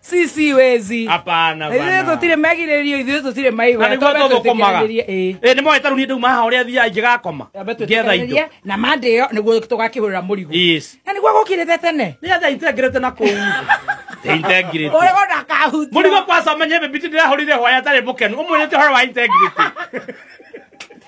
sisi wezi hapana ithuĩ bana tũtirĩ megirĩrio ithuĩ tũtirĩ maigwa na nĩguo tũthũkũmaga ĩ nĩ moĩ tarũ niĩ ndauma haha ũrĩa thiaga ingĩgakoma ngetha indo na mandĩo nĩguo tũgakĩhũrĩra mũrigo Yes. na nĩguo gũkirĩte tene nĩ atha integrate na kũu integrate ũrĩgo ndakahutia mũrigo kwaca menye bĩbiti ndĩrahũrire hwaya atarĩ mũkenu ũmwĩrĩte ũhoro wa integrity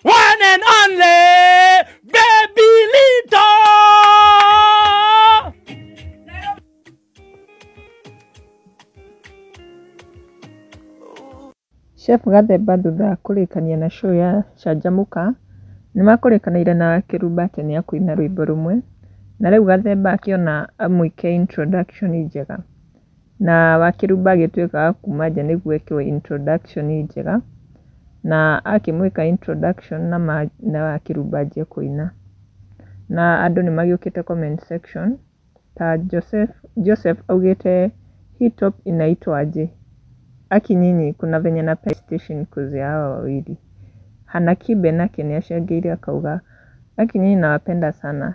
One and only baby Lito. Chef Gathemba thutha wa kũrĩkania na show ya Canjamũka, nĩ makũrĩkanĩire na Kĩrumba atĩ nĩ akũina rwĩmbo rũmwe, na rĩu Gathemba akĩona amwĩke introduction njega. Na Wakĩrumba agĩtuĩka wa kuuma nja nĩguo ekĩrwo introduction njega, na akĩmwĩka introduction na ma na Wakĩrumba anjia kũina. Na andũ nĩ magĩũkĩte comment section, ta Joseph Joseph augĩte hii top inaitwa aje? Aki nyinyi kuna venye napenda hii station coz ya hawa wawili. Hana Kibe nake nĩ acangĩire akauga, Aki nyinyi nawapenda sana,